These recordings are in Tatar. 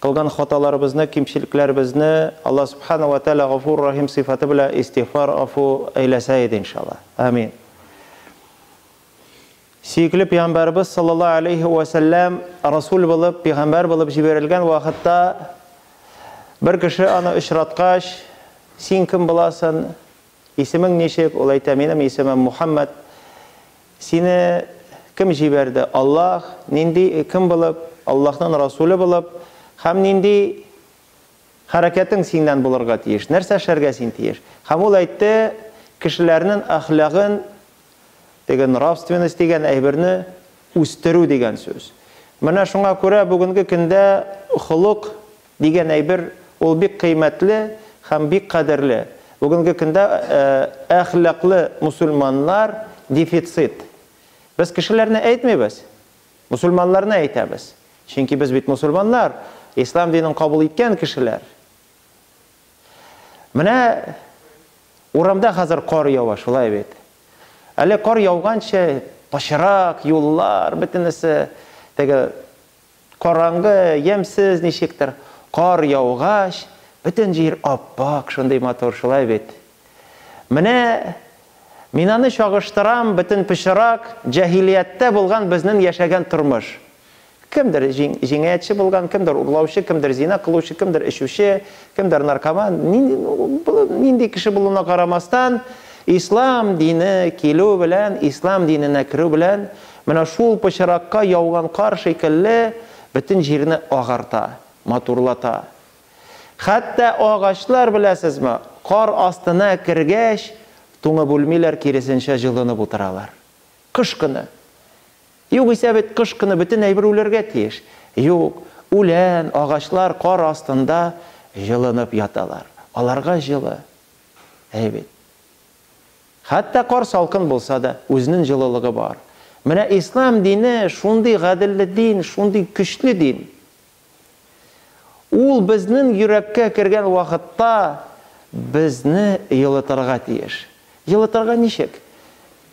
Кылган хаталарыбызны, кимчелекләребезне Алла Сүбхәнәһү вә Тәгалә Гафур Рәхим сыйфаты белән истигъфар, гафу, әйләсә иде, иншалла. Амин. Сөекле Пәйгамбәребез саллаллаһу алейһи вә сәлләм Расул булып, пәйгамбәр булып җибәрелгән вакытта бер кеше аны очраткач, Син кем буласың? Исемең ничек? Ул әйтә, Минем исемем Мухәммәд. Сине кем җибәрде? Аллаһ. Нинди, кем булып? Аллаһның Расуле булып. Һәм нинди хәрәкәтең синнән булырга тиеш? Нәрсә эшләргә син тиеш? Һәм ул әйтте, Кешеләрнең әхлагын, теге нравственность дигән әйберне үстерү дигән сүз. Менә шуңа күрә бүгенге көндә холык, Дигән әйбер, ул бик кыйммәтле һәм бик кадерле. Бүгенге көндә әхлаклы мусульманнар дефицит. Без кешеләрне әйтмибез, мусульманнарны әйтәбез. Чөнки без бит мусульманнар, ислам динен кабул иткән кешеләр. Менә урамда хәзер кар ява, шулай бит? Әле кар яуганчы пычрак, юллар бөтенесе теге Караңгы, ямьсез ничектер. Кар яугач, бөтен җир ап-ак, шундый матур, шулай бит? Менә мин аны чагыштырам, бөтен пычрак, җаһилияттә булган безнен яшәгән тормыш. Кемдер җинаятьче булган, кемдер урлаучы, кемдер зина кылучы, кемдер эчүче, кемдер наркоман. Нинди кеше булуына карамастан, ислам дине килү белән, ислам диненә керү белән, Менә шул пычракка яуган кар шикелле бөтен җирне агарта, матурлата. Хәтта агачлар, беләсезме, кар астына кергәч, туңып үлмиләр, киресенчә, җылынып утыралар. Кыш көне. Югыйсә бит кыш көне бөтен әйбер үләргә тиеш. Юк, үлән, агачлар кар астында җылынып яталар. Аларга җылы. Әйе бит. Хәтта кар салкын булса да, үзенен җылылыгы бар. Менә ислам дине шундый гаделле дин, шундый көчле дин. Ул безнен йөрәккә кергән вакытта безне елытырга тиеш. Елытырга ничек?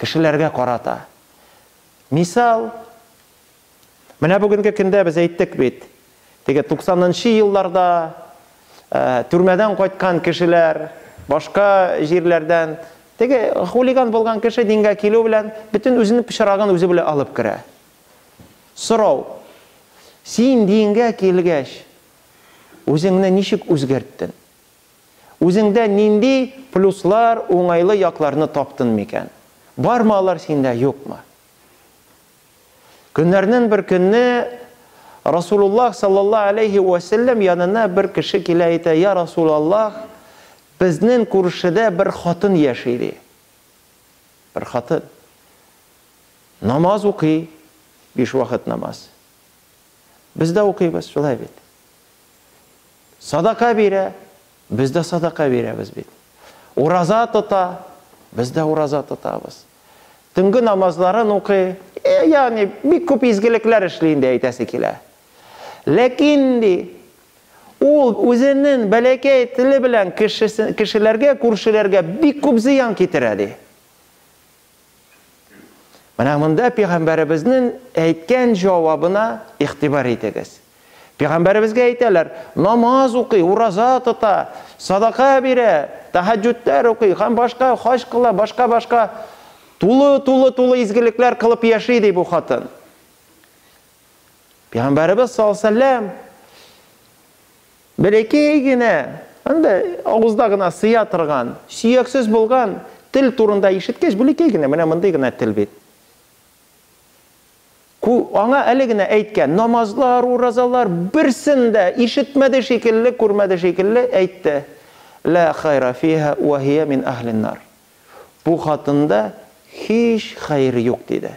Кешеләргә карата. Мисал, Менә бүгенге көндә без әйттек бит, теге 90 нчы елларда төрмәдән кайткан кешеләр, башка җирләрдән, теге хулиган булган кеше дингә килү белән бөтен үзенең пычрагын үзе белән алып керә. Сорау, син дингә килгәч, үзеңне ничек үзгәрттен? Үзеңдә нинди плюслар, уңайлы якларны таптын микән? Бармы алар синдә, юкмы? Көннәрнен бер көнне Расулуллах саллаллаһу алейһи вә сәлләм янына бер кеше килә әйтә, Я Расулаллаһ, безнен күршедә бер хатын яши, ди. Бер хатын. Намаз укый, биш вакыт намаз. Без дә укыйбыз, шулай бит. Садака бирә, без дә садака бирәбез бит. Ураза тота, без дә ураза тотабыз. Төнге намазларын укый, э, ягъни бик күп изгелекләр эшли инде әйтәсе килә. Ләкин ди, ул үзенең бәләкәй теле белән кешеләргә, күршеләргә бик күп зыян китерә ди. Менә монда пигамбәребезнең әйткән җавабына игътибар итегез. Пигамбәребезгә әйтәләр, намаз укый, ураза тота, садака бирә, тахаҗҗүдләр укый, һәм башка хаҗ кыла, башка-башка тулы, тулы, тулы изгелекләр кылып яши ди бу хатын. Пигамбәребез саллаллаһу Бәләкәй генә, анда авызда гына сыя торган, сөяксез булган тел турында ишеткәч, бәләкәй генә, менә мондый гына тел бит. Аңа әле генә әйткән, намазлар, уразалар, берсен дә ишетмәде шикелле, күрмәде шикелле әйтте. Лә хайра фиһа уә һия мин әһлин-нар. Бу хатында һич хәер юк, диде.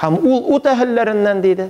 Һәм ул ут әһелләреннән, диде.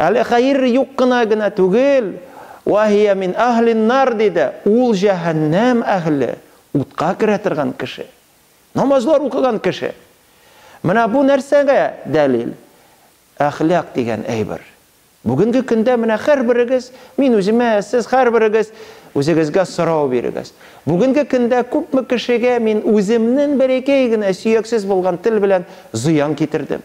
Әле хәер юк кына генә түгел, Ва һия мин әһлин нар, диде, ул җәһәннәм әһеле, утка керә торган кеше. Намазлар укыган кеше. Менә бу нәрсәгә дәлил? Әхлак дигән әйбер. Бүгенге көндә менә һәрберегез, мин үземә, сез һәрберегез үзегезгә сорау бирегез. Бүгенге көндә күпме кешегә мин үземнең бәләкәй генә сөяксез булган тел белән зыян китердем?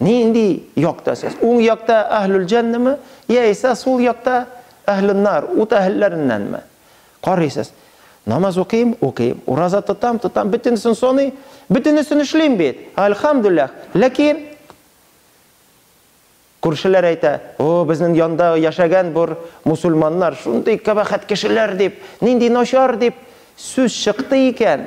Нинди якта сез? Уң якта Әһлүл Җәннәме, яисә сул якта Әһлүн Нар, ут әһелләреннәнме? Карыйсыз. Намаз укыйм, укыйм. Ураза тотам, тотам, бөтенесен саный, бөтенесен эшлим бит. Альхамдуллах. Ләкин күршеләр әйтә, О, безнең янда яшәгән бер мусульманнар шундый кабахәт кешеләр дип, нинди начар дип сүз чыкты икән.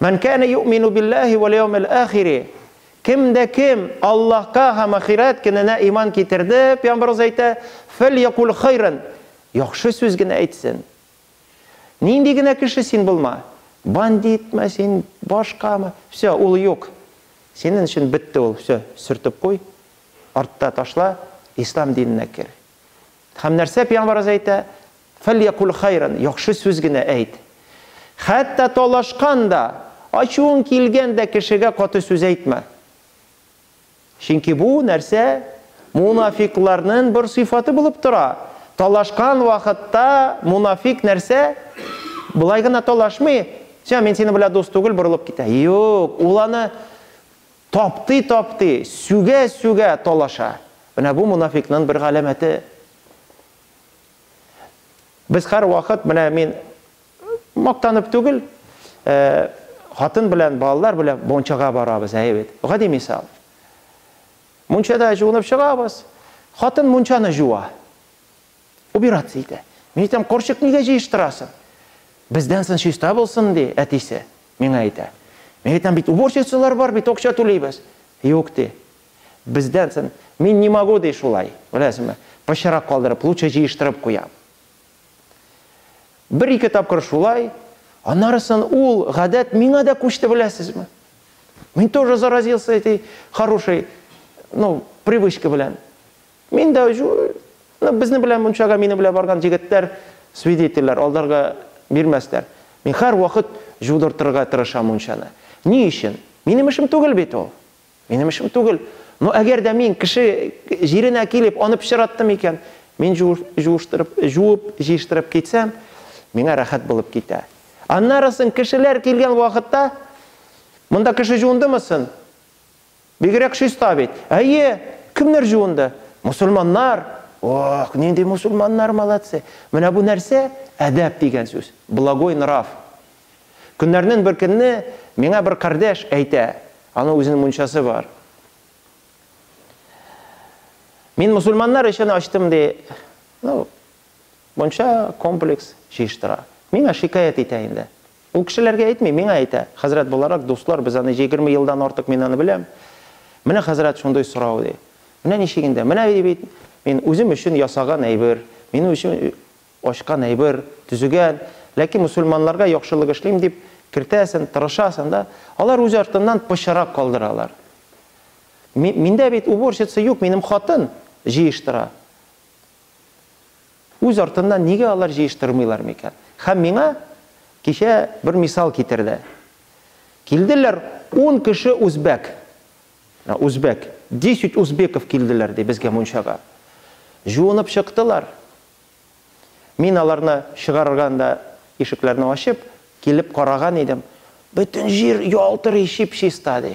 Мән кәне юмину билләһи вәл яумил ахири. Кем дә кем Аллаһка һәм ахирәт көненә иман китерде, пәйгамбәрбез әйтә, фәльякуль хайран, яхшы сүз генә әйтсен. Нинди генә кеше син булма, бандитмы син, башкамы, все, ул юк. Синен өчен бетте ул, все, сөртеп куй, артта ташла, ислам диненә кер. Һәм нәрсә пәйгамбарыбыз әйтә? Фәльякул хайран, яхшы сүз генә әйт. Хәтта талашкан да, ачуың килгән дә кешегә каты сүз әйтмә. Чөнки бу нәрсә мунафикларның бер сыйфаты булып тора. Талашкан вакытта мунафик нәрсә? Болай гына талашмый, "Сә, мин синең белән дус түгел", борылып китә. Юк, ул аны Таптый-таптый, сүгә-сүгә талаша. Менә бу монафикның бер галәмәте. Без һәрвакыт, менә мин мактанып түгел, хатын белән, балалар белән мунчага барабыз, әйе бит. Гади мисал. Мунчада җуынып чыгабыз, хатын мунчаны җуа. Убираться итә. Мин әйтәм, корчык нигә җыештырасың? Бездән сон чиста булсын, ди әтисе. Миңа әйтә. Мин әйтәм, бит уборщицалар бар, бит акча түлибез. Юк, ди. Бездән сон мин не могу, ди шулай. Беләсеңме? Пычрак калдырып, лучше җыештырып куям. Бер-ике тапкыр шулай, аннарысын ул гадәт миңа да күчте, беләсезме? Мин тоже заразился этой хорошей, ну, привычка белән. Мин дә җу, ну, безнең белән мунчага минем белән барган җегетләр свидетельләр алдарга бирмәсләр. Мин һәрвакыт җудыртырга тырышам мунчаны. Ни өчен? Минем эшем түгел бит ул. Минем эшем түгел. Но әгәр дә мин кеше җиренә килеп аны пычраттым икән, мин җу, җуыштырып, җуып, җыештырып китсәм, миңа рәхәт булып китә. Аннары соң кешеләр килгән вакытта, Монда кеше җуындымы сон? Бигрәк чиста бит. Әйе, кемнәр җуынды? Мосылманнар! Ох, нинди мосылманнар молодцы! Менә бу нәрсә? Әдәп дигән сүз. Благой нрав. Көннәрнен бер көнне миңа бер кардәш әйтә, аның үзенең мунчасы бар. Мин мусульманнар өчен ачтым, ди. Ну, мунча, комплекс җыештыра. Миңа шикаять итә инде. Ул кешеләргә әйтми, миңа әйтә. Хәзрәт буларак, дуслар, без аны егерме елдан артык мин аны беләм. Менә хәзрәт шундый сорау, ди. Менә ничегендә, менә ди бит, мин үзем өчен ясаган әйбер, минем өчен ачкан әйбер, төзегән, ләкин мөселманнарга яхшылык эшлим дип кертәсен, тырышасын да, алар үз артыннан пычырак калдыралар. Миндә бит уборщица юк, минем хатын җыештыра. Үз артыннан нигә алар җыештырмыйлар микән? Һәм миңа кичә бер мисал китерде. Килделәр ун кеше үзбәк. Менә үзбәк. Десять узбеков килделәр, ди, безгә мунчага. Җуынып чыктылар. Мин аларны чыгарганда, ишекләрне ачып, килеп караган идем. Бөтен җир ялтырый, чип-чиста, ди.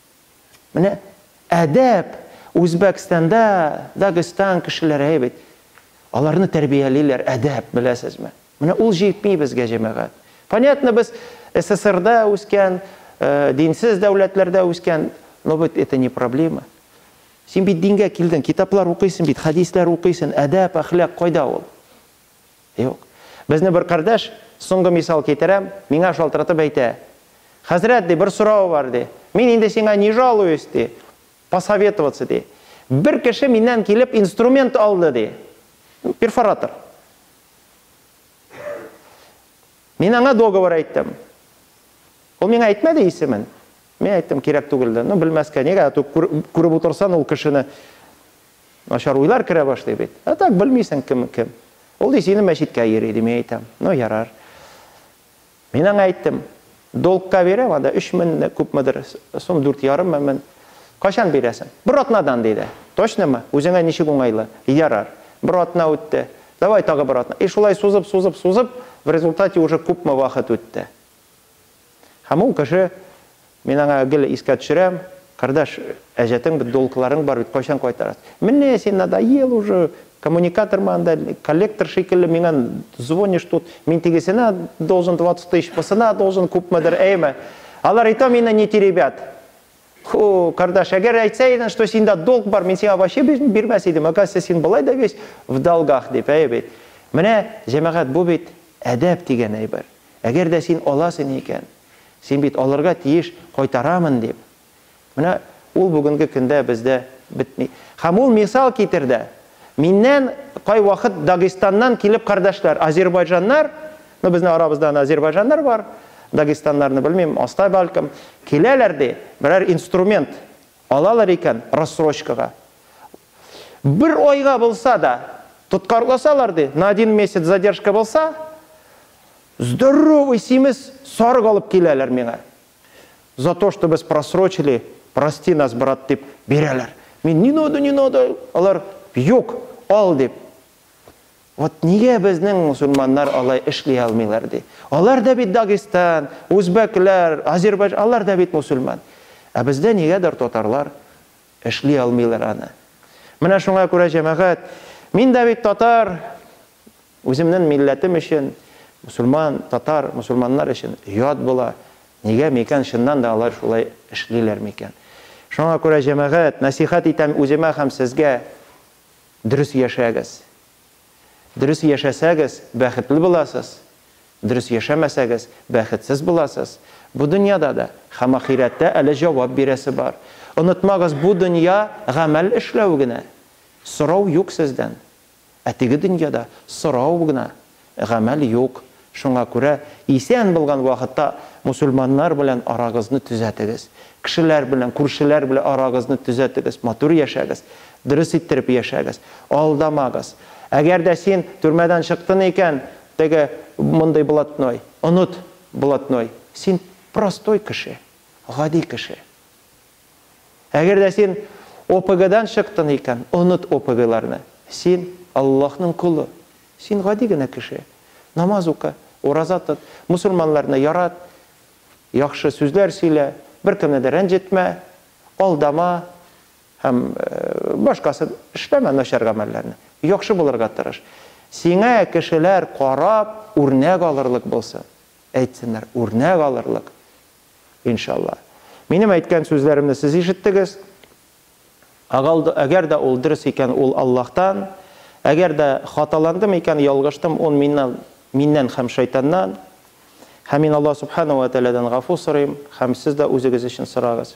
Менә әдәп, Үзбәкстанда, Дагестан кешеләре әйбәт. Аларны тәрбиялиләр, әдәп, беләсезме? Менә ул җитми безгә, җәмәгать. Понятно, без СССРда үскән, э, динсез дәүләтләрдә үскән, но ведь это не проблема. Син бит дингә килдең, китаплар укыйсың бит, хәдисләр укыйсың, әдәп, әхлак кайда ул? Юк. Безне бер кардәш, соңгы мисал китерәм, миңа шалтыратып әйтә. Хәзрәт, ди, бер сорау бар, ди. Мин инде сиңа не жалуюсь, ди. Посоветоваться, ди. Бер кеше миннән килеп инструмент алды, ди. Перфоратор. Мин аңа договор әйттем. Ул миңа әйтмәде исемен. Мин әйттем, кирәк түгел дә. Ну, белмәскә, нигә? Күреп утырсан ул кешене. Начар уйлар керә башлый бит. А так, белмисең, кем кем. Ул ди, сине мәчеткә йөри, ди, мин әйтәм. Ну, ярар. Мин аңа әйттем. Долгка бирәм, анда өч меңне, күпмедер сум, дүрт ярыммы, мен. Кайчан бирәсең? Бер атнадан, диде. Точнымы? Үзеңә ничек уңайлы? Ярар. Бер атна үтте. Давай, тагы бер атна. И шулай сузып, сузып, сузып, в результате уже күпме вакыт үтте. Һәм ул кеше, мин аңа гел искә төшерәм, Кардәш, әҗәтең бит, долгыларың бар бит, кайчан кайтарасыз? Менә син надоел уже, коммуникатормы анда, коллектор шикелле миңа звонишь тут, мин тегесенә должен 20 тысяч, бусына должен күпмедер, әйеме? Алар и то мине не теребят. Ху, Кардәш, әгәр әйтсә идең, что синдә долг бар, мин сиңа вообще бирмәс идем, оказывается, син болай да весь в долгах, дип, әйе бит. Менә, җәмәгать, бу бит әдәп дигән әйбер. Әгәр дә син аласың икән, син бит алырга тиеш, кайтарамын дип. Менә ул бүгенге көндә бездә бетми. Һәм ул мисал китерде. Миннән кайвакыт Дагестаннан килеп кардәшләр, азербайҗаннар, ну безнең арабызда аны азербайҗаннар бар, дагестаннарны белмим, алстай бәлкем, киләләр ди, берәр инструмент, Алалар икән рассрочкага. Бер айга булса да тоткарласалар, ди, на один месяц задержка булса, здоровый симез сарык алып киләләр миңа. За то, что без просрочили, прости нас, брат, дип бирәләр. Мин не надо, не надо, алар юк, ал дип. Вот нигә безнең мусульманнар алай эшли алмыйлар ди. Алар да бит Дагестан, Узбәкләр, Азербайжан, алар да бит мусульман. Ә бездә нигәдер татарлар эшли алмыйлар аны. Менә шуңа күрә җәмәгать, мин дә бит татар, үземнен милләтем өчен, мусульман, татар, мусульманнар өчен ят була. Нигә микән чыннан да алар шулай эшлиләр микән. Шуңа күрә җәмәгать, насихат итәм үземә һәм сезгә. Дөрес яшәгез. Дөрес яшәсәгез, бәхетле буласыз. Дөрес яшәмәсәгез, бәхетсез буласыз. Бу дөньяда да һәм ахирәттә әле җавап бирәсе бар. Онытмагыз, бу дөнья, гамәл эшләү генә. Сорау юк сездән. Ә теге дөньяда сорау гына гамәл юк. Шуңа күрә исән булган вакытта мусульманнар белән арагызны төзәтегез. Кешеләр белән, күршеләр белән арагызны төзәтегез, матур яшәгез, дөрес иттереп яшәгез, алдамагыз. Әгәр дә син төрмәдән чыктын икән, теге мондый блатной, оныт блатной, син простой кеше, гади кеше. Әгәр дә син ОПГдан чыктың икән, оныт ОПГларны. Син, Аллаһның колы. Син гади генә кеше. Намаз укы, ураза тот, мосылманнарны ярат, яхшы сүзләр сөйлә, беркемне дә рәнҗетмә, алдама һәм башкасын эшләмә начар гамәлләрне. Яхшы булырга тырыш. Сиңа кешеләр карап, үрнәк алырлык булсын. Әйтсеннәр, үрнәк алырлык. Иншалла. Минем әйткән сүзләремне сез ишеттегез. Әгәр дә ул дөрес икән, ул Аллаһтан. Әгәр дә хаталандым икән, ялгыштым, ул миннан, миннән һәм шайтаннан. Һәм мин Аллаһ Субхана уә Тәгаләдән гафу сорыйм, һәм сез дә үзегез өчен сорагыз.